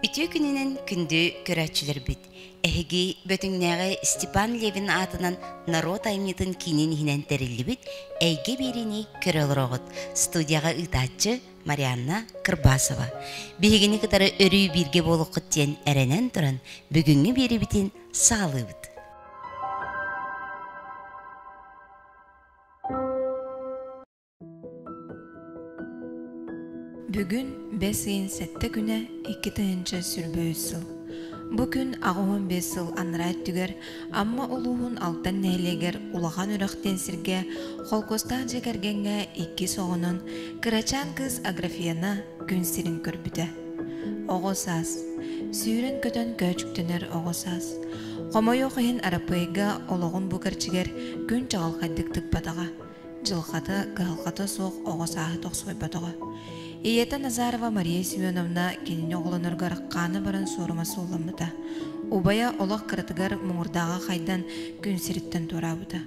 Үтүө күнүнэн күндү көрөөччүлэрбит! Эһиги Бөтүҥнээҕи Степан Левин аатынан норуот айымньытын киинин иһинэн тэриллибит «Эйгэ биэриини көрө олороҕут» студияҕа ыытааччы Марианна Кырбасова. Биһигини кытары өрүү бииргэ буолуоххут диэн эрэнэн туран, бүгүҥҥү биэрэбитин саҕалыыбыт. Бүгүн бэс ыйын сэттэ күнэ икки тыһыынча сүрбөөс сыл. Бу күн аҕыһын бэс сыл анараа өттүгэр Амма улууһун Алтан нэһилиэгэр улахан үрэхтэн сиргэ холкуостаах дьиэ кэргэҥҥэ иккис оҕонон кырачаан кыыс Аграфена күн сирин көрбүтэ. Оҕо саас Сүүрэн көтөн көөчүктөнөр оҕо саас. Хомойуох иһин Арапыайга олоҕун бу кэрчигэр күн чаҕылхайдык тыкпатаҕа. дьылҕата, кыһалҕата суох оҕо сааһы тохсуйбатоҕо. Ийэтэ Назарова Мария Семеновна кинини оҕолоноргор хаана баран суорума суулламмыта. Убайа олох кыратыгар муҥурдааҕа хайдан күн сириттэн туораабыта.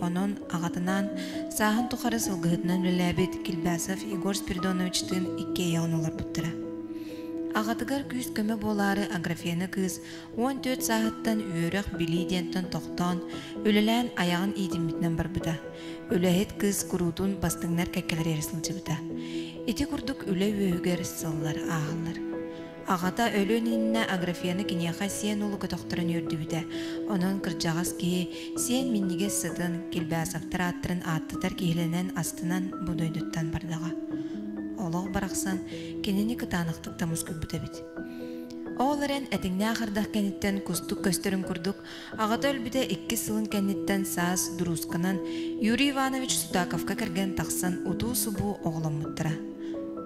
Онон аҕатынаан сааһын тухары сылгыһытынан үлэлээбит Кильбасов Егор Спиридоновичтыын икки эйэҕин олорбуттара. Аҕатыгар күүс-көмө буолаары Аграфена кыыс Уон түөрт сааһыттан үөрэх-билии диэнтэн тохтоон, үлэлээн айаҕын иитиммитинэн барбыта. Үлэһит кыыс куруутун бастыҥнар кэккэлэрэ эрэ сылдьыбыта. Ити курдук үлэ үөһүгэр сыллар ааһаллар. Аҕата өлүөн иннинэ Аграфена киниэхэ сиэн уолу көтөхтөрөн үөрдүбүтэ, онон кырдьаҕас киһи сиэн минньигэс сытын, Кильбясовтар ааттарын ааттатар киһилэнэн астынан бу дойдуттан бардаҕа. Олох барахсан кинини кытаанахтык да мускуйбут эбит. Ол эрэн этиҥнээх ардах кэнниттэн кустук көстөрүн курдук, аҕата өлбүтэ иккис сылын кэнниттэн саас дуруусканан Юрий Иванович Сутаковка кэргэн тахсан утуу-субуу оҕоломмуттара.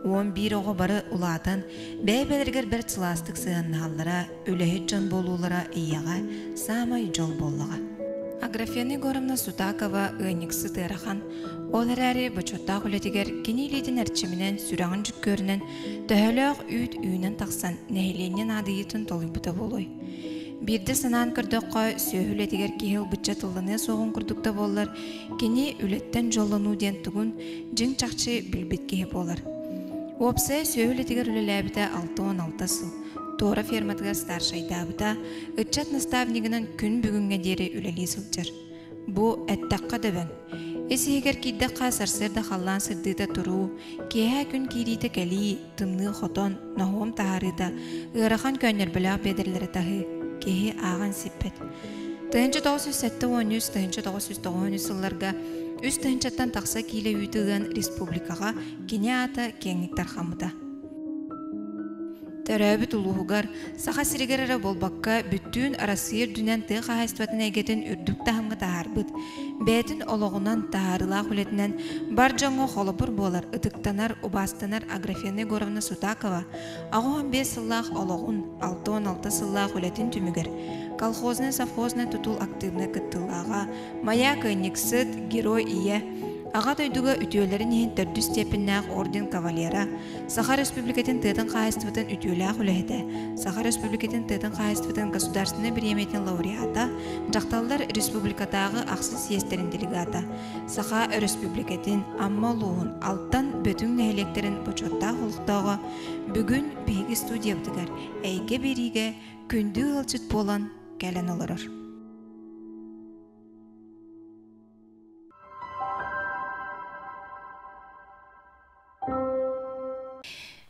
Уон биир оҕо бары улаатан, бэйэ-бэйэлэригэр бэрт сылаастык сыһыаннаһаллара, үлэһит дьон буолуулара ийэҕэ саамай дьол буоллаҕа. Аграфена Егоровна Сутакова ыанньыксыт ыарахан, ол эрээри бочуоттаах үлэтигэр кини илиитин эрчиминэн, сүрэҕин дьүккүөрүнэн Төһөлөөх үүт үүнэн тахсан нэһилиэнньэ наадыйыытын толуйбута буолуой? Биирдэ санаан көрдөххө, сүөһү үлэтигэр киһи ылбычча тылланыа суоҕун курдук да буоллар, кини үлэттэн дьоллонуу диэн тугун дьиҥ чахчы билбит киһи буолар. Уопсай сүөһү үлэтигэр үлэлээбитэ алта уон алта сыл. Туора ферматыгар старшайдаабыта, ыччат наставнигынан күн бүгүҥҥэ диэри үлэлии сылдьар. Бу, эттэххэ дөбөҥ. Ис-иһигэр киирдэххэ, сарсыарда халлаан сырдыыта туруу, киэһэ күн киириитэ кэлии, тымныы хотон, ноһуом таһаарыыта, ыарахан көөнньөрбөлөөх биэдэрэлэрэ таһыы, киһи ааҕан сиппэт. Тыһыынча тоҕус сүүс сэттэ уон үс тыһыынча тоҕус сүүс тоҕуон үс сылларга үс тыһыынчаттан тахса киилэ үүтү ыан республикаҕа кини аата киэҥник тарҕаммыта. Төрөөбүт улууһугар, Саха сиригэр эрэ буолбакка, бүттүүн Арассыыйа үрдүнэн тыа хаһаайыстыбатын эйгэтин үрдүк таһымҥа таһаарбыт, бэйэтин олоҕунан, таһаарыылаах үлэтинэн бар дьоҥҥо холобур буолар, ытыктанар, убаастанар Аграфена Егоровна Сутакова аҕыс уон биэс сыллаах олоҕун, алта уон алта сыллаах үлэтин түмүгэр Колхознай совхознай тутул актыыбынай кыттыылааҕа, Моя кыанньыксыт, Герой ийэ, Аҕа дойдуга үтүөлэрин иһин төрдүс степеннээх орден кавалера, Саха Республикатын тыатын хаһаайыстыбатын үтүөлээх үлэһитэ, Саха Республикатын тыатын хаһаайыстыбатын государственнай бириэмэтин лауреата, дьахталлар республикатааҕы ахсын съезтэрин делегата, Саха Өрөспубликатын Амма улууһун Алтан Бөтүҥ нэһилиэктэрин бочуоттаах олохтооҕо, бүгүн биһиги студиябытыгар эйгэ биэриигэ күндү ыалдьыт буолан кэлэн олорор.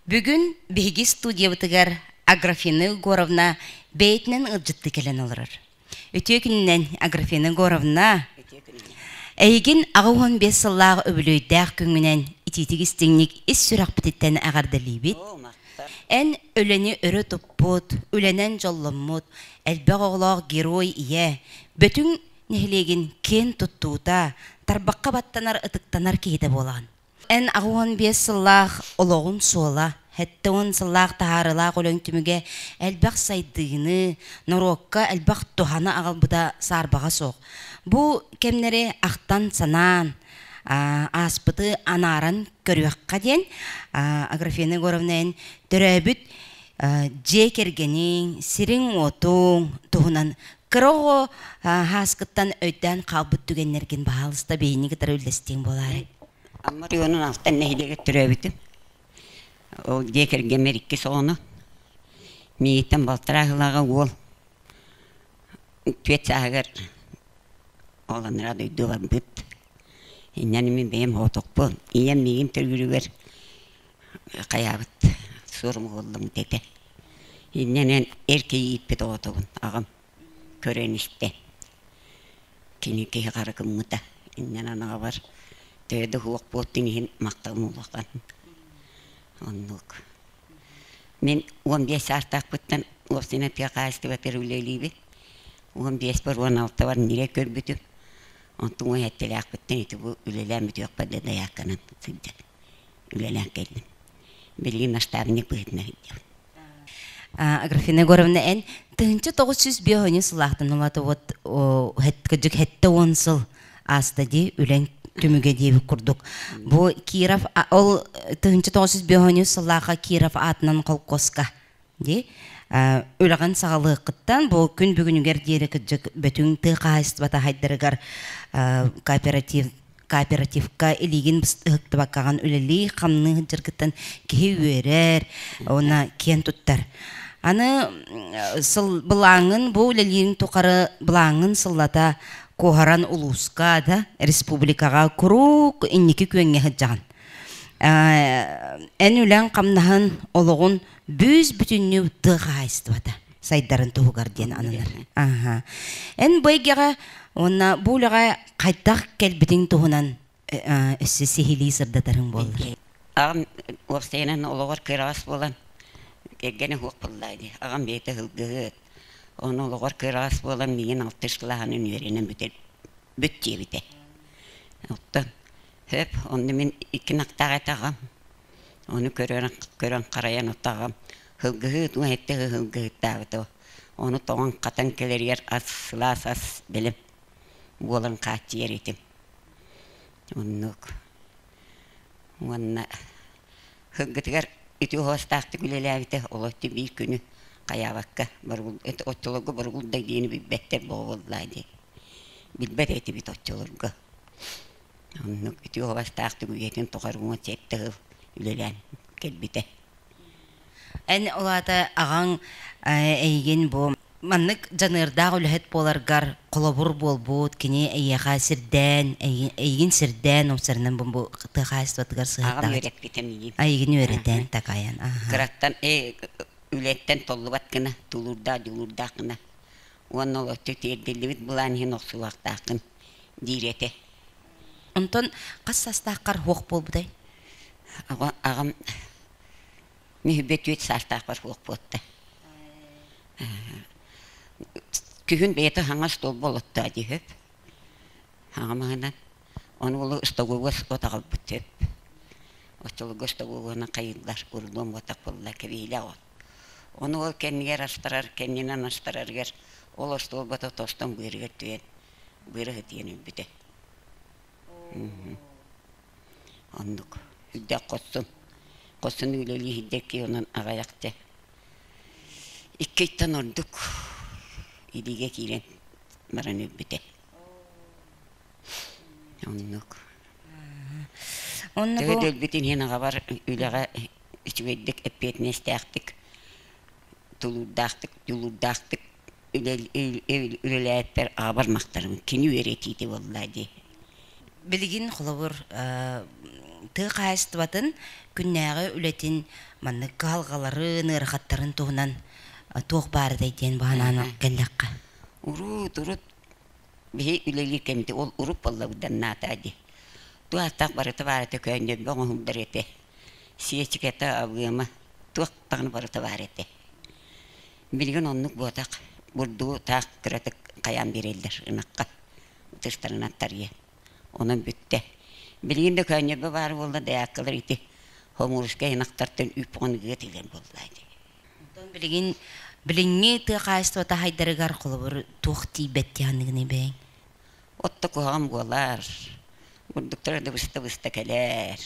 Бүгүн биһиги студиябытыгар Аграфена Егоровна бэйэтинэн ыалдьытты кэлэн олорор. Үтүө күнүнэн, Аграфена Егоровна. Эйигин аҕа уон биэс сыллаах үбүлүөйдээх күҥҥүнэн итиитик истиҥник ис сүрэхпититтэн эҕэрдэлиибит. Эн үлэни өрө туппут, үлэнэн дьолломмут, элбэх оҕолоох герой ийэ, бүтүн нэһилиэгин киэн туттуута, тарбахха баттанар ытыктанар киһитэ буолаҕын. Эн аҕыс уон биэс сыллаах олоҕун суола, сэттэ уон сыллаах таһаарылаах өлөҥ түмүгэ элбэх сайдыыны, норуокка элбэх туһаны аҕалбыта саарбаҕа суох. Бу кэмнэри ахтан-санаан, аа, ааспыты анааран көрүөххэ диэн аа, Аграфена Егоровна эн төрөөбүт аа, дьиэ кэргэниҥ, сириҥ-уотуҥ туһунан Кыра оҕо хааскыттан өйдөөн хаалбыт түгэннэргин баһаалыста биһинни кытары үллэстиэҥ буолаары. Амма районун алтан нэһилиэгэ төрөөбүтүм. Ол дьиэ кэргэммэр иккис оҕону. Миигиттэн балтарааһылааҕа уол түөрт сааһыгар оҕолонора дойдуларбыт. Иннэн мин бэйэм хоотохпун. Ийэм миигин төрүүрүгэр хайаабыт суорум уоллум дэтэ иннинэн эр киһи ииппит оҕотобун аҕам көрөн истэ кини киһи хара гыммыта иннинэн аҕабар төһө да уһуох буолтун иһин махталым улахан оннук мин уон биэс саастаахпыттан осино тыа хаһаайыстыбатыгар үлэлиибин уон биэспэр уон алтыбар ньирэ көрбүтүм онтум уон эттэлээхпиттэн ити бу үлэлээн бүтүөхпэр да дайаакканан сылдьар үлэлээн кэллим. Билигин наставник быһыытынан сылдьабын. Аграфена Егоровна эн тыһынча тоҕус сүүс биэ хоньун сылаахтан уматыбыт кыдьык хэттэ уон сыл ааста дии үлэн түмүгэ диэбит курдук. Бу Киров ол тыһынча тоҕус сүүс биэ хоньун сыллааха Киров аатынан холкуоска Ди үлэҕин саҕалыаххыттан бу күн бүгүнүгэр диэри кырдьык бүтүн тыа хаһаайыстыбата хайдарыгар кооператив кооперативка илиигин ыһыктыбаккаҕын үлэлии хамныы сылдьаргыттан киһи үөрэр уонна киэн туттар аны сыл былааҥҥын бу үлэлиирин тухары былааҥҥын сыллата куоһаран улууска да республикаҕа куруук инники күөҥҥэ сылдьаҕын эн үлэҥ хамнаһын олоҕун бүүс-бүтүннүү тыа хаһаайыстыбата сайдарын туһугар диэн ананар. Аха. Эн бу эйгэҕэ уонна бу үлэҕэ хайдах кэлбитиҥ туһунан өссө сиһилии сырдатарыҥ буоллар. Аҕам уопсайынан олоҕор кыараҕас буолан кэргэнэ уһуох буллаа дии. Аҕам бэйэтэ һылгыһыт. Ону олоҕор кыараҕас буолан миигин алтыш кылааһын үөрэнэн бүтэр бүт диэбитэ. Оттон өп, онно мин икки нактаах этаҕым. Ону көрөн, көрөн харайан отаҕым һылгыһыт уу этэ ыһылгыһыттаабыта. Ону тоҥон хатан кэлэригэр ас сылаас ас бэлэм буолан хааччыйар этим. Оннук. Уонна һылгытыгар ити уһуостаахтык үлэлээбитэ олотту биир күнү хайаабакка оттологу боругулдай диэни билбэттэр боҕо буоллаа дии. Билбэт этибит оччолорго. Оннук ити уобастаах түбүгэтин тухары уҥа сэттэ сыл үлэлээн кэлбитэ. Эн ол аата аҕаҥ эйигин бу маннык дьаныардаах үлэһит буоларгар холобур буолбут, кини эйиэхэ сирдээн, эйигин сирдээн умсарынан бу тыа хаһаайыстыбатыгар сыһыардаҕа. Аҕам үөрэппитэ миигин. Айыгын үөрэтээн такайан. Кыраттан э үлэттэн толлубат гына, тулуурдаах дьулуурдаах гына уонна ол өттө тиэрдиллибит былаан иһин охсуулаахтааххын диир этэ. Онтон хас саастааххар суох буолбутай? Аҕа, аҕам мүһүбэ түөрт саастаахпар суох буолта. Күһүн бэйэтэ хаҥас толбу олоттоо дии сөп. Аҕамаһынан ону уолу остогуогу отаҕырбыт сөп. Оччолорго остогуогунан хайыыллар, урулуон уотах буолла, кэбиһиилээх от. Ону ол кэннигэр астарар, кэннинэн астарарыгар ол остуолбата тостон быарыгар түһэн быарыһы тиэн өлбүтэ. Оннук. Үрдэх хоссун. Хоссун үлэлии иһирдэкки онон аҕайах дэ. Иккиттэн ордук илиигэ киирэн баран өлбүтэ. Оннук. Онно Төһө бу да өлбүтүн иһин аҕабар үлэҕэ үчүгэйдик эппиэтинэстээхтик, тулуурдаахтык, дьулуурдаахтык үлэлээппэр аҕабар махтанабын. Кини үөрэтиитэ буолла дии. Билигин холобур тыа хаһаайыстыбатын күннээҕи үлэтин маннык кыһалҕаларын, ыарахаттарын туһунан туох баарыдай диэн баҕанаан кэллэххэ. Урут, урут Биһи үлэлиир кэммитэ ол урут буоллабыданнаатаа дии. Ту-ааттаах барыта-баара төкөөн ньөлбө оҥоһуллар этэ. Сиэчикэтэ, абыама, туох даҕаны барыта баар этэ. Билигин оннук буотах. Бурдугу таах кыратык хайаан биэрэллэр ынахха. Ытыштарынан тарыйа. Онон бүттэ. Билигин Өкөөн ньөлбө баар буолла, даяккалар ити хомуурускай ынахтартан үп ону ыга тигэр буоллаа дии. Онтон билигин билиҥҥи тыа хаһаайыстыба таһайдарыгар холобур туох тиийбэт диэханыгыный бэйэҥ? Отто куһаҕан буолар. Бурдуктара да быста-быста кэлэр.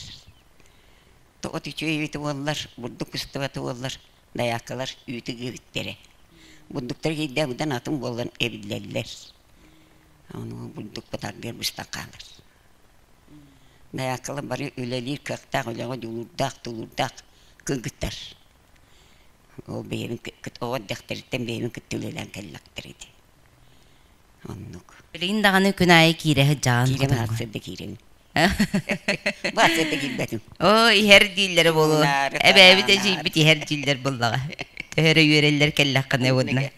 От үтүө эбитэ буоллар, бурдук быстыбата буоллар, дайааккалар үүтү гыыбыттэрэ. Бурдуктар киирдэ быдан атын буолан эбиллэллэр. Ону бурдук бытаргыар быстан хаалар. Дайааккалар бары үлэлиир кыахтаах, үлэҕэ дьулуурдаах, тулуурдаах кыргыттар. Ол бэйэбин оҕо эрдэхтэриттэн бэйэбин кытта үлэлээн кэллэхтэр ити. Оннук. Билигин даҕаны күн аайы киирэ сылдьаҕын Киирэ баартыйа да киирэрим. Баартыйа да киирбэтим. Оо, иһэр дииллэрэ буолуо. Эбээбит эдьиийбит иһэр дииллэр буоллаҕа. Төһө эрэ үөрэллэр кэллэххинэ уонна.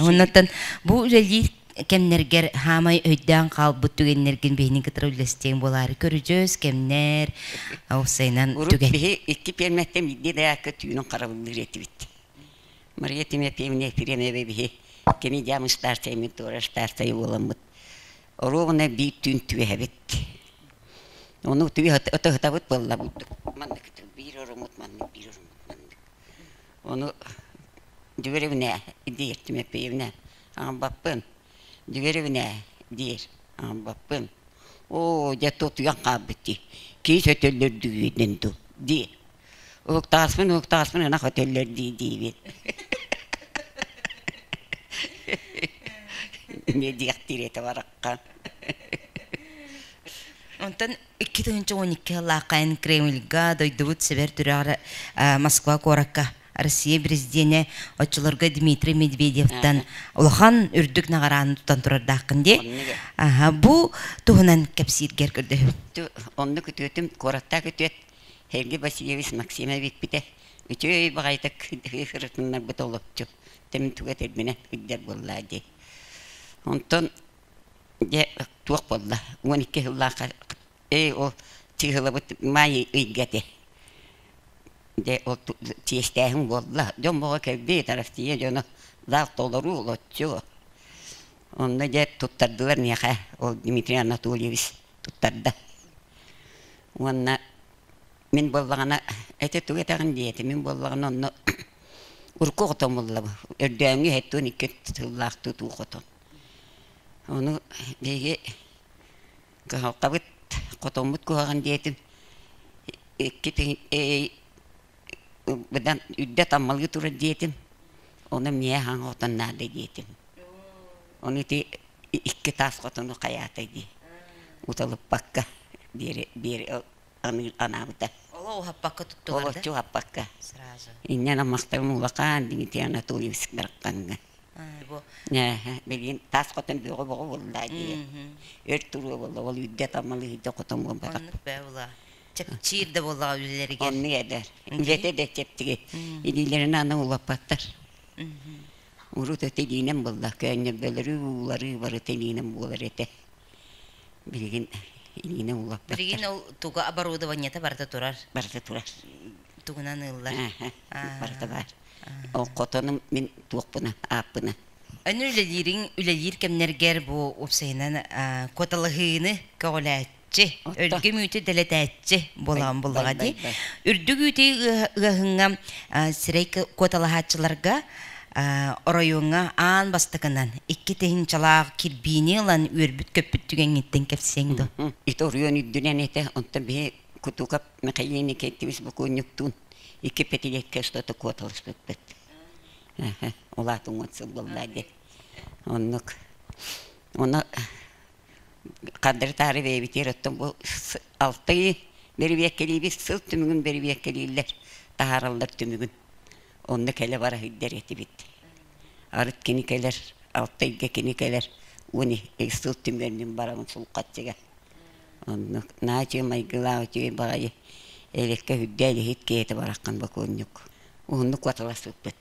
Оннуттан бу үлэлиир кэмнэргэр хаамай өйдөөн хаалбыт түгэннэргин биһинин кытары үллэстиэҥ буолаары көрүдьүөс кэмнэр уопсайынан урут түгэн биһи икки пиэрмэттэн биирдии даякка түүнүн харабыллыыр этибит мария тимофеевна ефремева биһи кини дьаам ыстаартайымын туора ыстаартайы буоламмыт оруобуна биир түүн түөһэбит ону түөһ ото ытабыт буолла маннык биир орумут маннык биир орумут маннык Ону Дегоревне диир Тимофеевна аҥарбаппын. Дегоревне диир аҥарбаппын. Оо, дьэ тутуйан хаалбыт дии. Киис өтөллөрдүгүйдин дуу дии. Уһуктааспын уһуктааспын ынах өтөллөр дии диибин. эмиэ диэхтиир этэ бараххан. Онтон Икки тыһыынча он икки сыллааххайын Кремльга дойдубут Сибэр түрөҕөр Москва куоракка Россия президиэнэ оччолорго Дмитрий Медведевтан улахан үрдүк наҕарааны тутан турардааххын дии. Бу туһунан кэпсииргэр көрдөһүм. Онно күтүөтүм куораттаах күтүөт Сергей Васильевич Максимов эппитэ үчүгэй баҕайытык сырытыннарбыт олопчу. Тэмин туга тэрбинэ ыйдар буоллаа дии. Онтон Дьэ, туох буолла? Уон икки сыллаахха «Эй, ол чыыһылабыт Маайа ыйга этэ». Дьэ, ол чиэстээһин буолла. Дьон бөҕө кэлбит, Арассыыйа дьоно лаах толору олоччу. Онно дьэ туттардылар миэхэ, ол Дмитрий Анатольевич туттарда. Уонна мин буоллаҕына, ити тугу этэҕин диэти, мин буоллаҕына онно урукку хотон буллабын. Өрдөөҥҥү сэттиэн икки сыллаахтыы туу хотон. Ону биһиги кыһалҕабыт, хотоммут куһаҕан диэтин икки быдан үрдэ таммалыы турар диэтим, ону эмиэ аһаҥ хотон наада диэтим. Ону ити икки таас хотону хайаатай дии, уталыппакка диэри биэри анаабыта. Оло уһаппакка туттуларда? Олоччу уһаппакка. Сразу. Инньэн аммахтарым улахан, Дмитрий Анатольевич барахханыгар. бу билигин таас хотон бөҕө боҕу булла дии өр туруу буолла ол үрдэ тамал үрдэ хотон буолбатах оннук бээ була чэпчиир да буоллаҕа үлэлэригэр оннук эдэр үлэтэ да чэптиги илиилэрин аны улаппаттар урут этилиинэн булла көөнньөрбөлөрү ууларыы бары тилиинэн буолар этэ билигин илиинэн улаппаттар билигин ол туга оборудованиета барыта турар барыта турар тугунан ыыллар барыта баар Хотону мин туохпуна, ааппына. Аны үлэлиириҥ үлэлиир кэмнэргэр бу уопсайынан куоталаһыыны көҕүлээччи, өргө мүөтү дэлэтээччи буолаан буллаҕа дии. Үрдүк үүтү ыаһыҥҥа сирэй куоталаһааччыларга оройуоҥҥа аан бастакынан икки тыһыынчалаах кирбиини ылан үөрбүт көппүт түгэҥҥиттэн кэпсиэҥ дуо? Ити оройуон үрдүнэн этэ, онтон биһи кутуукап Михаил Никитич букуунньуктуун икки пятилетке что-то куоталаспыппыт. Улаатыҥ уот сыллыллаа диэн. Оннук. Ону хардырытаары бэйэбитигэр оттон бу алтыы бэрибиэккэлиибит сыл түмүгүн бэрибиэккэлииллэр таһаараллар түмүгүн онно кэлэ бара сылдьар этибит арыт кини кэлэр алтайга кини кэлэр уон сыл түмүөнүн барамын сулхаччыга Оннук наа үчүгэй майгылаах үчүгэй баҕайы элэккэ сүрдэ илиһит киһитэ бараххан бакуонньук уһуннук куотала сыппыт.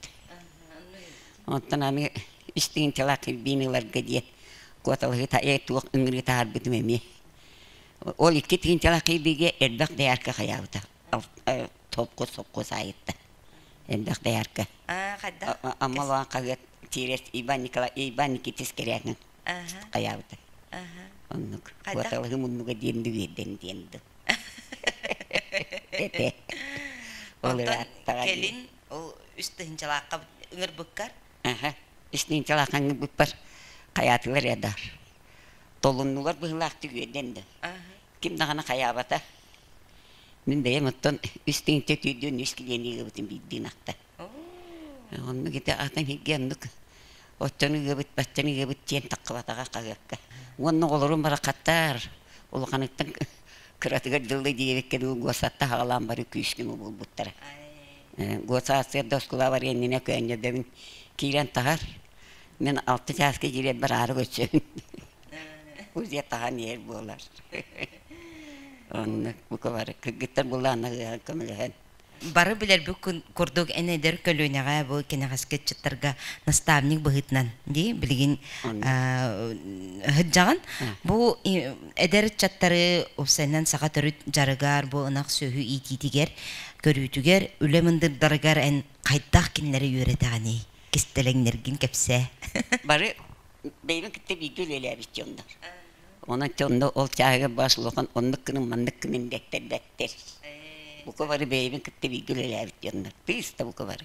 Онтон аны истиҥчалаах илбиин ыларга диэн куоталаһыыта ээ туох ыҥырыы таһаарбытым эмиэ. Ол икки тыынчалаах илбиигэ элбэх доярка хайаабыта толкуз сопхуос аайытта элбэх доярка. Ама Иван Иван Николай Иван Никитис кэрээҥҥин хайаабыта оннук куоталыгы муннуга диэн бириэрдэн диэн дым оттон кэлин ол үс тыһынчалаахха ыҥырбыккар үс тыһынчалаахха ыҥырбыппар хайаатылар эдаар толуннулар быһылаахтык үөрдэн да ким даҕаны хайаабата мин бэйэм оттон үс тыһынча түүрдүөн үс килиэни ыгыбытым биирдиин ахта Оннук ити атын иһиггэ оннук оччону ыгыбыт, баччаны ыгыбыт диэн таххыбатаҕа хаһыакка. Уонна оҕолорум бараххаттар улаханыттан кыратыгар дылы диэбиккин уу госатта аҕалаан бары күүскүмү булбуттара. Госассыйа да оскуолабар иннинэ көөнньөдөбүн киирэн таһар. Мин алта чааска киирэн бараары көрсөбүн. Кузя таһан иһэр буолар. Оннук бука бары кыргыттар булааннаһыаҕын көмөлөһөн. Бары билэрбит курдук, эн эдэр көлүөнэҕэ бу кэнэҕэски ыччаттарга наставник быһыытынан дии билигин ыһыддьаҕын. Бу эдэр ыччаттары уопсайынан саха төрүт дьарыгар, бу ынах сүөһү иитиитигэр, көрүүтүгэр, үлэ мындырдарыгар эн хайдах кинилэри үөрэтэҕиний? Кистэлэҥнэргин кэпсээ. Бары бэйэбин кытта бииргэ үлэлээбит дьоннор. Онон онно ол чааһыгар баш улахан оннук күнүн маннык күнүн дэттэрдэттэр. Бука бары бэйэбин кытта бииргэ үлэлээбит дьоннор. Тыыста бука бары.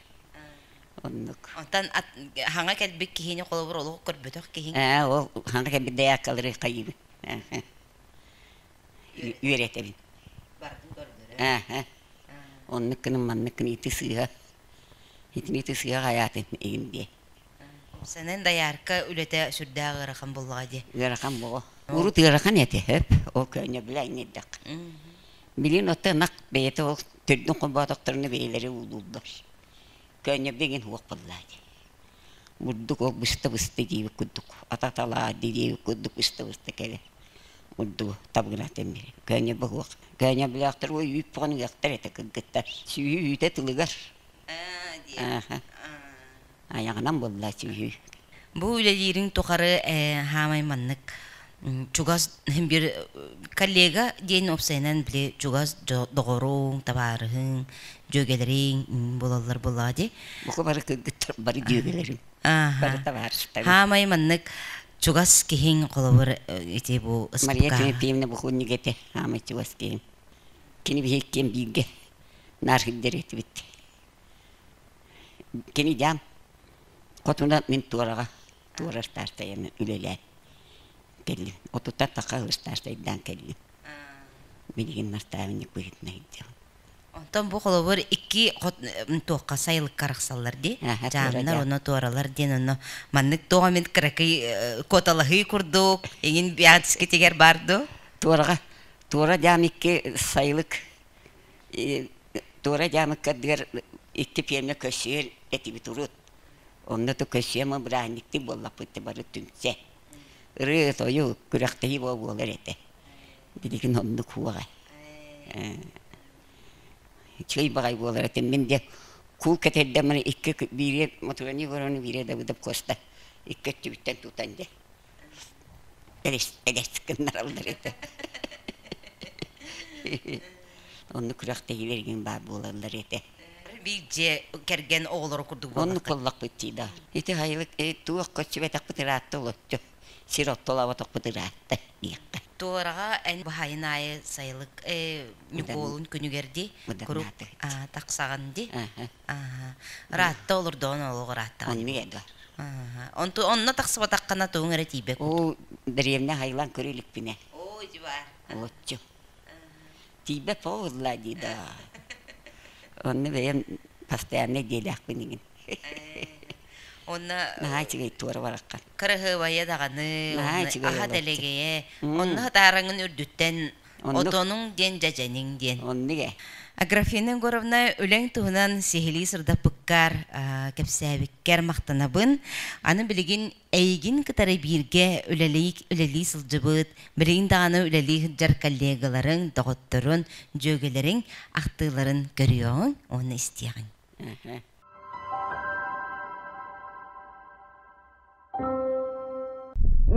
Оннук. Онтон ат хаҥа кэлбит киһини холобур олох көрбөтөх киһиҥ. Ээ ол хаҥа кэлбит дайааккалары хайыыбын. Үөрэтэбин. Барытын көрдөрө. Ээ. Оннук күнүн маннык күн ити сыыһа. Итини ити сыыһа хайаатын игин диэ. Сэнэн доярка үлэтэ сүрдээх ыарахан буллаҕа дии. Ыарахан буолу. Урут ыарахан этэ хөп. Ол көөнньө билэ иҥирдэх. Билин отто ынах бэйэтэ ол төрдүн холбоотохторуна бэйэлэри уулууллар. Көөнньө билигин уох буллаа дии. Бурдук ол быста-быста диибит курдук, ататалаа диибит курдук быста-быста кэлэ. Бурдугу табыгынатын бир. Көөнньө быһуох. Көөнньө билэхтэр ой үүппүҕүн ыахтар этэ кыргыттар. Сүүһү үүтэ тылыгар. Аа дии. Аха. айаҕынан буллааччы үһү. Бу үлэлиириҥ тухары хаамай маннык чугас бир коллега диэн уопсайынан били чугас доҕоруҥ, табаарыһыҥ, дьүөгэлэриҥ буолаллар буоллаҕа дии. Бука бары кыргыттар бары дьүөгэлэрим. Бары табаарыстарым. Хаамай маннык чугас киһиҥ холобур ити бу Мария Тимофеевна букунньук этэ хаамай чугас киһим. Кини биһи иккиэн бииргэ наар сылдьар этибит. Кини дьаам хотуна мин туораҕа туора ыстаастайаны үлэлээн кэллим. Отуттан тахха ыстаастайдаан кэллим. Билигин настаабынньык быһыытынан ирдиэҕим. Онтон бу холобур икки хот туохха сайылыкка арахсаллар дии. Аха, Дьаамнар уонна туоралар диэн онно маннык туох эмит кыракый куоталаһыы курдук эҥин Биатскитигэр баар дуу? Туораҕа туора дьаам икки сайылык Туора Дьаамыккардыгар икки пиэрмэ көрсүһэр этибит урут. Онно то көрсүһүөм бырааһынньыктык буоллахпыт бары түмсэ. Ырыа, тойук, күрэхтэһии бу буолар этэ. Билигин оннук уоҕа. Үчүгэй баҕай буолар этэ. Мин диэн куу кэтэрдэ маны икки биире Мотуруон Егоровну биире Давыдов Куоста икки өттүбүттэн тутан дьэ Эрэстэгээс гыннараллар этэ. Онну күрэхтэһиилэргин баар буолаллар этэ. Биир дьиэ кэргэн оҕолору курдук буолла. Оннук буоллахпыт дии да. Ити хайылык туох көччүбэтэхпит ыраатта олоччу. Сир оттолоботохпут ыраатта диэххэ. Туораҕа эн баһайын аайы сайылык Ньукуолун күнүгэр ди курук тахсаҕын ди Ааһа. Ыраатта олордоҕун олох ырааттаҕа дии Оннук буолла. Ааһа. Онту онно тахсыбатаххына тугуҥ эрэ тиийбэт курдук. Уу, дэриэбинэ хайылаан көрө иликпинэ, Оо, дьубаар. оччо. Тиийбэт буолла дии да. Онно бэйэм постояннай дьиэлээхпин игин. Онно Наһаа үчүгэй туора бараххан. кыраһыабайа даҕаны, Наһаа онно үчүгэй аһа олорчу. дэлэгэйэ, М. онно сатаараҥын үрдүттэн Отонуҥ диэн дьэдьэниҥ диэн. Оннук ээ. Аграфена Егоровна, үлэҥ туһунан сиһилии сырдаппыккар, кэпсээбиккэр махтанабын. Аны билигин эйигин кытары бииргэ үлэлии сылдьыбыт, билигин даҕаны үлэлии сылдьар коллегаларыҥ, доҕотторун, дьүөгэлэриҥ ахтыыларын көрүөҕүҥ уонна истиэҕиҥ.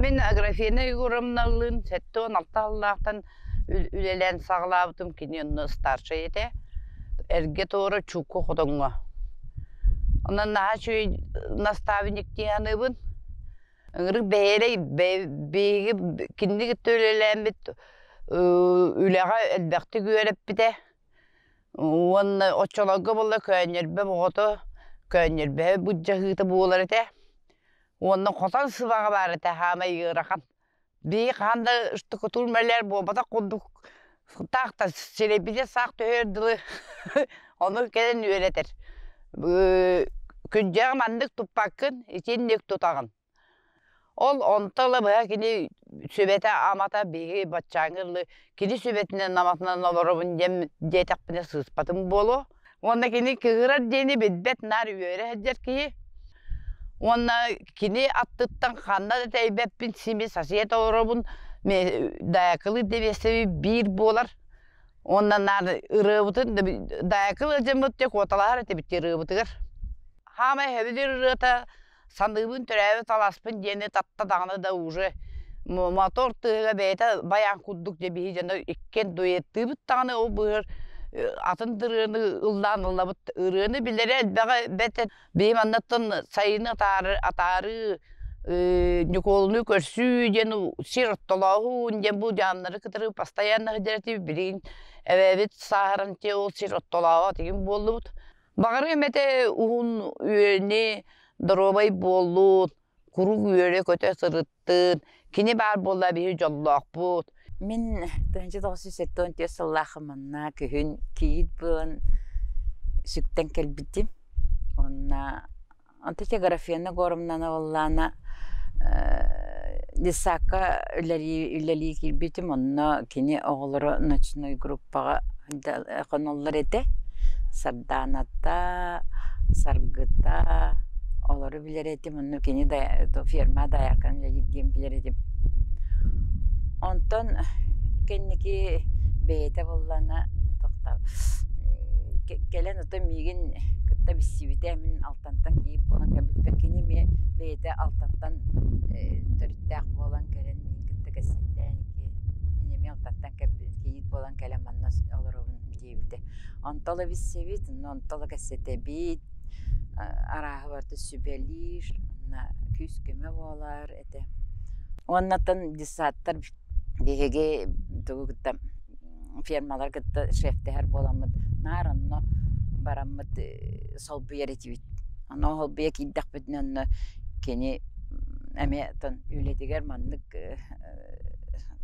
Мин Аграфена Егоровналыын сэттэ уон алта аллаахтан үлэлээн саҕалаабытым кини онно старшай этэ. Эргэ тоора чукку хотоҥҥо. Онон наһаа үчүгэй наставник дианыыбын. Ыҥырык бэйэлэй биһиги кинини кытта үлэлээммит үлэҕэ элбэхтик үөрэппитэ. Уонна оччолорго буолла көөнньөрбөм оҕото, көөнньөрбөһө быдьаһыыта буолар этэ. Уонна хотон сыбаҕа баар этэ саамай ыарахан. Бии хаһан да штукатур мэлээр буолбатах курдук таахтар сирэйбитэ саах түһүөр дылы ону кэлэн үөрэтэр. Күндьэҕэ маннык туппаккын итинник тутаҕын. Ол онто ыла быһа кини сүбэтэ-амата биһиги баччааҥҥы ыллыы кини сүбэтинэн-аматынан олоробун диэн диэтэхпинэ сыыспатым буолуо. Уонна кини кыыһырар диэни билбэт наар үөрэ сылдьар киһи. Уонна кини аттыттан ханна да тэйбэппин сими сосед олоробун Даякылы дэбиэстэби биир буолар. Уонна наар ырыабытын Даякыл ыалдьыммыт дьэ куоталаһар этибит дии ырыабытыгар. Хаамай сөбүлүүр ырыата саныыбын төрөөбүт алааспын диэни татта даҕаны да уже мотор тыаһыга бэйэтэ баян курдук дьэ биһи дьоно иккиэн дуэттыыбыт даҕаны ол быһар атын ырыаны ыллаан ыллабыт ырыаны билэрэ элбэҕи бэт биһим аннаттан сайыны атаары атаарыы Ньукуолуну көрсүү диэн сир оттолооһуун диэн бу дьааннары кытары постоянно сидэрти билигин эбэбит сааһыран те ол сир оттолообот игин буоллубут Баҕарым этэ уһун үөлү, доруобай буоллут, курук үөлү көтө сырыттыт, кини баар буолла биһи дьоллоохпут. Мин тыһыынча тоҕус жүз сэттион түөрт сыллаахым манна күһүн кийиит буолан сүктэн кэлбитим. Онно Онто тиграфена Горумнана уоллаана детсадка үлэлии киирбитим онно кини оҕолоро ночной группаҕа хонуллар этэ Сарданата Саргыта олору билэр этим онно кини ферма даяркан үлэлиир диэн билэр этим онтон кэнники бэйэтэ буоллаана тохто кэлэн кытта миигин кытта билсибитэ мин Алтантан кийиит буолан кэлбиппэр кини эмиэ бэйэтэ Алтантан төрүттээх буолан кэлэн миин кытта кэпсэттээн ити мин эмиэ Алтантан кийиит буолан кэлэн манна олоробун диэбитэ онто ыла билсэбит онно онто ыла кэпсэтэбит арааһы барыта сүбэлиир онно күүс-көмө буолар этэ уоннаттан детсадтар биһиги тугу кытта фермалар кытта шефтэһэр буоламмыт наар онно бараммыт солбуйар этибит. Ону холбуйа киирдэхпитинэ онно кини эмиэ отон үлэтигэр маннык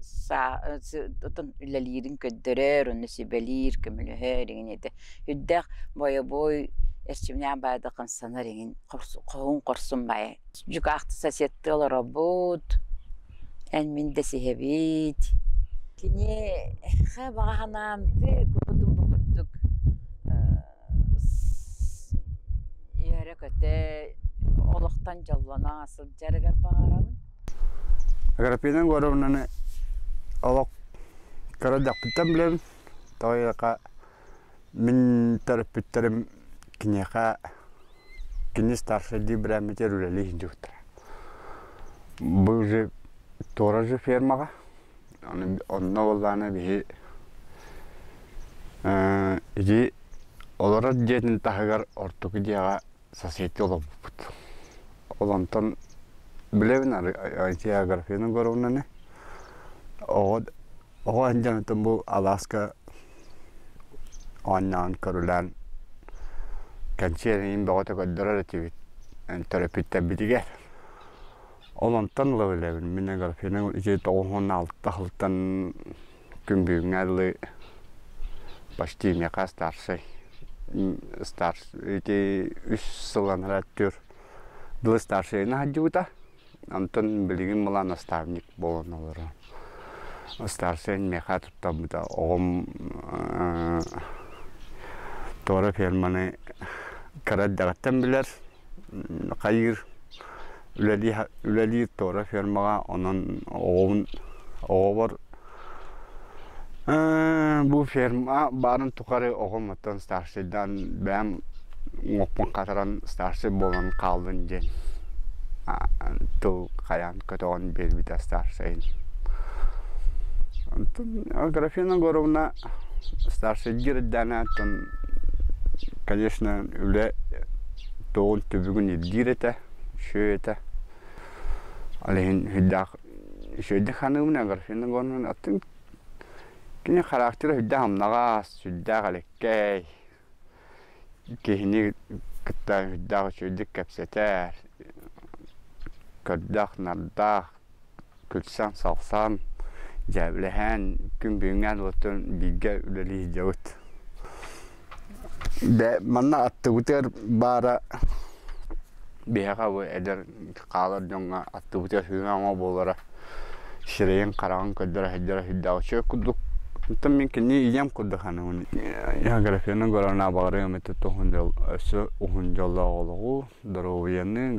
саа отон үлэлиирин көрдөрөр, онно сүбэлиир, көмөлөһөр игин ити үрдээх бойобуой эрчимнээх баайда хамсанар игин хоһун хорсун баайа Дьукаахта соседтыы олоробут, эн мин дэсиһэбит. Кини хэ баҕа санаан тыа курдук үөрэ-көтө олохтон дьоллоно сылдьарыгар баҕарабын. Аграппина Егоровнаны олох кыра дьахтыттан билэбин, тоҕо диэтэххэ Мин төрөппүттэрим киниэхэ кини старшайдыы бирээммитигэр үлэлии сылдьыбыттара. Бу же туора же фермаҕа онно буоллаҕына биһи ити олорор дьиэтин таһыгар ортоку дьиэҕэ соседка олорбуппут. Ол онтон билэбин арыгы географияны Горовнаны оҕо Оҕо анньаантан бу алааска оонньоон көрүлээн кэнсиэрин бөҕөтө көрдөрөр этибит төрөппүттэрбитигэр. Ол онтон ыла билэбин мин аграфена ити тоҕуһун алта халтан күн бүгүҥҥэ дылы почти миэхэ старшай ити үс сылланара өттүгэр дылы старшайына сылдьыбыта. Онтон билигин была наставник буолан олорон. Ыстаарсыйан миэхэ туттарбыта оҕом туора ферманы кыра эрдэҕиттэн билэр, хайыыр, үлэлиир туора фермаҕа, онон оҕобун, оҕобор бу ферма баарын тухары оҕом оттон старшайдаан бэйэм уҥуохпун хатаран старшай буолан хааллын диэн тыл хайаан көтөҕөн биэрбитэ старшайын оттон аграфена егоровна старшайдыыр эрдээнэ оттон конечно үлэ туоҕун түбүгүн ирдиир этэ үчүгэй этэ ол иһин сүрдээх Үчүгэйдик саныыбын Аграфена Ивановна атын кини характера сүрдээх амнаҕас, сүрдээх элэккэй. Киһини кытта сүрдээх үчүгэйдик кэпсэтэр, көрдөөх-нардаах, күлсэн-салсан, дьээбэлэһэн, күн бүгүҥҥээн уотун бииргэ үлэлии сылдьабыт. Бэ манна аттыбытыгар баара биһиэхэ бу эдэр хаалар дьоҥҥо аттыбытыгар сыһыан оҥо буолара сирэйин хараҕын көрдөрө сылдьара сырдааҕа үчүгэй курдук оттон мин кини ийэм курдук саныыбын географияны көрөр наабаҕарыам этэ туһун дьол өссө уһун дьоллоох олоҕу доруобуйаны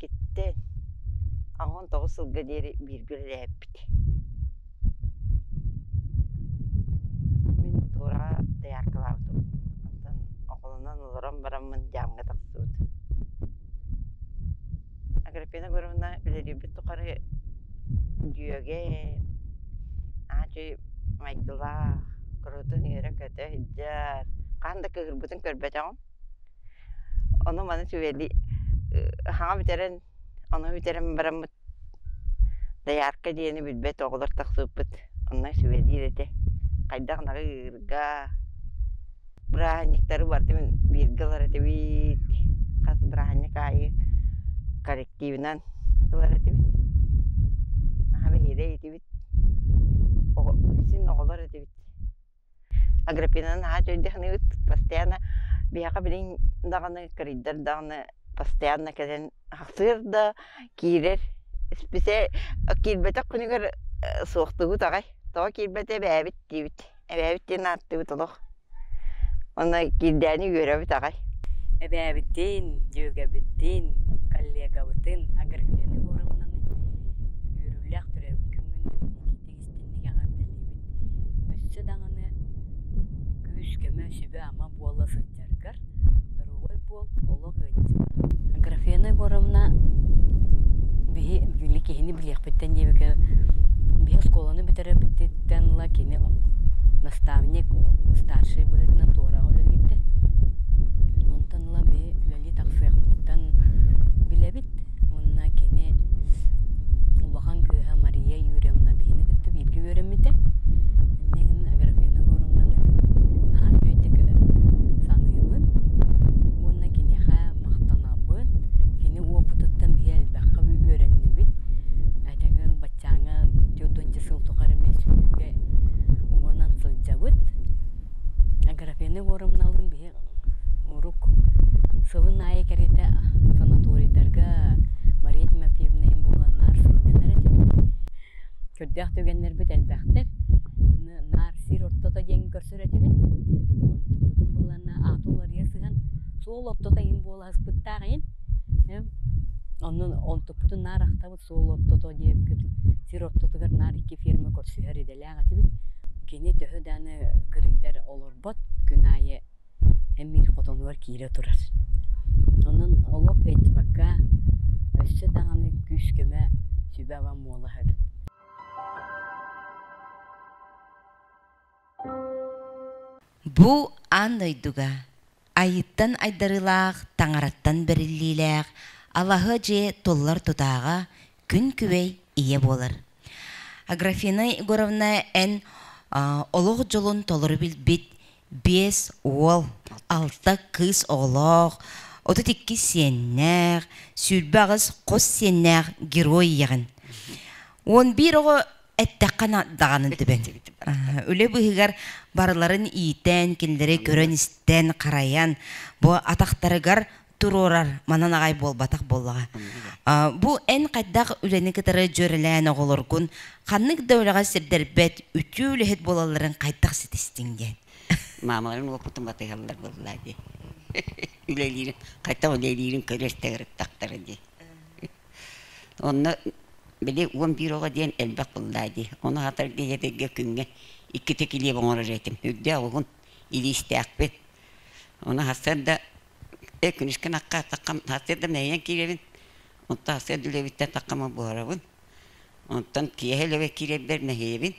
киттэ аһон тоҕус сылга диэри бииргэ үлэлэһэппит мин туораҕа дояркалаабытым онтон оҕолонон олорон бараммын дьаамҥа тахсыбыт агриппина егоровна үлэлиирбит тухары дьүөгэ аадьый майгылаах курутун үөрэ-көтө сылдьар хаһан да кыыһырбытын көрбөтөҕүм Ону маны сүбэли саҥа бүтэрэн, ону бүтэрэн бараммыт доярка диэни билбэт оҕолор тахсыбыппыт онно сүбэлиир этэ. Хайдах ырга, бырааһынньыктары барыта мин бииргэ ылар этибит. Хас бырааһынньык аайы коллективынан ылар этибит. Наһаа биһиэрэ этибит. Син оҕолор этибит. Агриппина наһаа үчүгэйдик саныыбыт постоянно биһиэхэ билигин даҕаны кырыйдар даҕаны постоянно кэлэн ахсыыр да киирэр исписэ киирбэтэх күнүгэр суохтугут аҕай тоҕо киирбэтэ эбээбит диибит эбээбит диэн ааттыыбыт олох уонна киирдээни үөрэбит аҕай эбээбитин дьүөгэбитин коллегабытын Агриппина форумунан үөрүүлээх төрөөбүт күҥҥүн истинник эҕэрдэлиибин. Өссө даҕаны күүс-көмө, сүбэ-ама буола сылдьаргар доруобай буол, олох ыалдьыма. Графена Егоровна биһи били киһини билиэхпиттэн диэбиккэ биһи оскуоланы бүтэрбититтэн ыла кини наставник, старшай быһыытынан туораҕа үлэлиирдэ. Онтон ыла биһи үлэлии тахсыахпытыттан билэбит, Уонна кини улахан кыыһа Мария Юрьевна биһини кытта бииргэ үөрэммитэ. Иннэ гынна Аграфена Егоровнаны наһаа үчүгэйдик саныыбын уонна киниэхэ махтанабын. Кини уопутуттан биһи элбэххэ үөрэннибит. Этэҥҥэ баччааҥҥа түөрт уонча сыл тухары сүтүүгэ уҥанан сылдьабыт. Аграфена Егоровналыын биһи Урук сылын аайы кэриэтэ санаторийдарга Мария Тимофеевна им буолан наар сынньанар этибит. Көрдөөх түгэннэрбит элбэхтэр. Наар сир ортото диэн көрсөр этибит. Онтубутун булланна аата уларыйа сыһан суол ортото им буола аспыттаах иһин оннун онтуппутун наар ахтабыт суол ортото диэбиккин сир ортотугар наар икки ферма көрсүһэр идэлээх этибит кини төһө дааны кырыйдар олорбот күн аайы эмиир хотонугар киирэ турар онон олох өйдүбэккэ өссө даҕаны күүс-көмө сүбэ-ама муола эбит Бу аан дойдуга Айыттан айдарыылаах, Таҥараттан бэриллиилээх алаһы дьиэ толлор тутааҕа күн-күбэй ийэ буолар. Аграфина Егоровна эн олох дьолун толору билбит биэс уол, алта кыыс оҕолоох, отут иккис сиэннээх, сүүрбэ аҕыс хос сиэннээх герой ийэҕин. Он биир оҕо эттэххэ даҕаны түбэҥ үлэ быһыгар барыларын иитэн кинилэри көрөн-истэн харайан бу атахтарыгар туруорар манан аҕай буолбатах буоллаҕа бу эн хайдах үлэни кытары дьүөрэлээн оҕолоргун ханнык да үлэҕэ сирдэрбэт үтүө үлэһит буолалларын хайдах ситистиҥ диэн маамаларын уопутун батыһаллар буолла дии үлэлиирин хайтан үлэлиирин көрөр тагырыттахтара дии Онно били уон биир оҕо диэн элбэх быллаа дии. Ону хатар дьиэтэргэ күҥҥэ иккитэ килиэп оҥорор этим. Үрдэ олугун илиистээхпин. Ону сарсыарда эй күнүскүн акка таххам сарсыарда мэрийэн киирэбин. Оттон сарсыарда үлэбиттэн таххама буһарабын. Оттон киэһэ үлэбэ киирэрбэр мэһийэбин.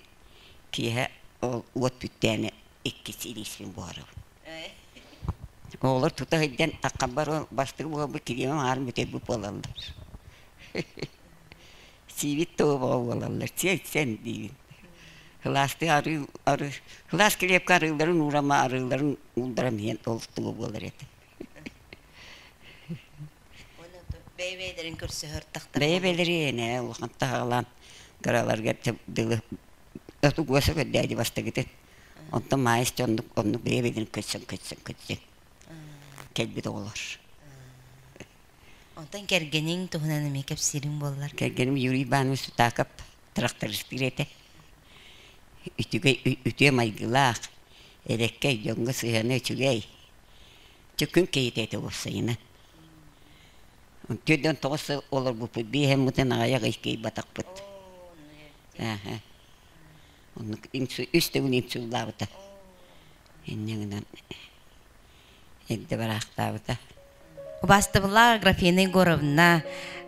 Киэһэ ол уот бүттээни иккис илиисин буһарабын. Оҕолор тута сылдьан таххабар бастык буолбут кириэмэм аһарын бүтэрбит буолаллар. Сиибит тобоҕо буолаллар. Сиэн сиэн диибин. Кылаастыы арыы арыы кылаас крепка арыыларын уурама арыыларын уулдаран иһэн ол тобо буолар этэ. Бэйэ-бэйэлэрин көрсөһөр тахтар. Бэйэ-бэйэлэрин ээ улахан таһаҕалаан кыраларга дылы Тугуга сөгөрдөөдү бастагытын. Онтон маайыс оннук оннук бэйэбитин көтсөн көтсөн көтсөн. Кэлбит оҕолор. Онтон кэргэниҥ туһунан эмиэ кэпсиириҥ буоллар. Кэргэним Юрий Иванович Сутаков трактористыыр этэ. Үтүгэй үтүө майгылаах, эреккэй, дьоҥҥо сыһыана үчүгэй. Чөккүн киһитэ этэ уопсайынан. Түөртэн тоҕус олорбуппут биэһэммытын аҕайах иккиэй батахпыт. Ааһа. Оннук үстүгүн инсуллаабыта. Инньэ гынан эрдэ бараахтаабыта. Убаастабылла Аграфена Егоровна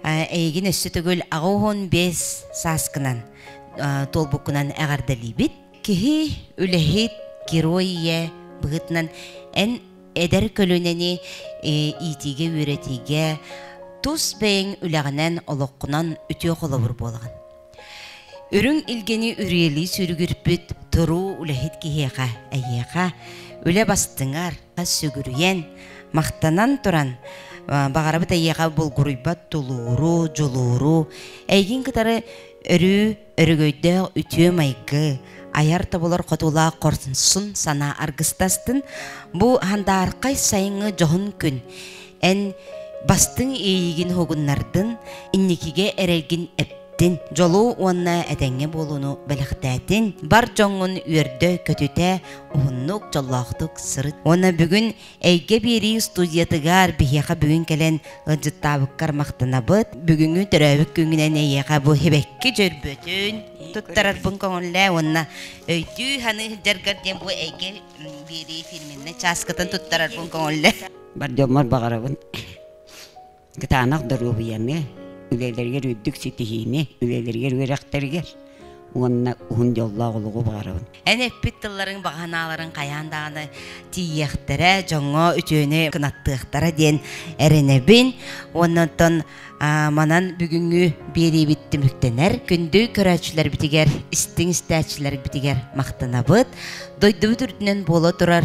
эйигин өссө төгүл аҕа уон бес сааскынан туолбуккунан эҕэрдэлиибит. Киһи үлэһит, герой ийэ быһытынан эн эдэр көлүөнэни иитиигэ, үөрэтиигэ тус бэйэҥ үлэҕинэн, олоххунан үтүө холобур буолаҕын. Үрүҥ илгэни үрүйэлии сүрүгүрпүт туруу үлэһит киһиэхэ эһиэхэ үлэ бастыҥар, сүгүрүйэн, махтанан туран баҕарабыт эйиэхэ булгуруйбат тулууру, дьулууру, эйигин кытары өрүү өрөгөйдөөх үтүө майгы, айар тобулар хотуулаах хорсун санаа аргыстастын. Бу хандаархай сайыҥҥы дьоһун күн эн бастыҥ иэйиигин уһугуннардын, инникигэ эрэргин эптин, дьолу уонна этэҥҥэ буолууну бэлэхтээтин, бар дьоҥҥун үөрдө-көтүтэ, уһуннук, дьоллоохтук сырыт. Уонна бүгүн эйгэ биэрии студиятыгар биһиэхэ бүгүн кэлэн ыалдьыттаабыккар махтанабыт. Бүгүҥҥү төрөөбүт күҥүнэн эйиэхэ бу хибэкки дьөрбөтүн туттарарбын көҥүллээ уонна өйдүү-саныы сылдьаргар диэн бу эйгэ биэрии фирменнэй чааскытын туттарарбын көҥүллээ. Бар дьоммор баҕарабын кытаанах доруобуйаны, үлэлэригэр үрдүк ситиһиини, үлэлэригэр үөрэхтэригэр уонна уһун дьоллоох олоҕу баҕарабын. Эн эппит тылларыҥ баҕаһынааларын хайаан даҕаны тиийиэхтэрэ, дьоҥҥо үтүөнү кынаттыахтара диэн эрэнэбин. Оннуттан манан бүгүҥҥү биэриибит түмүктэнэр. Күндү көрөөччүлэрбитигэр, истиҥ истээччилэрбитигэр махтанабыт. Дойдубут үрдүнэн буола турар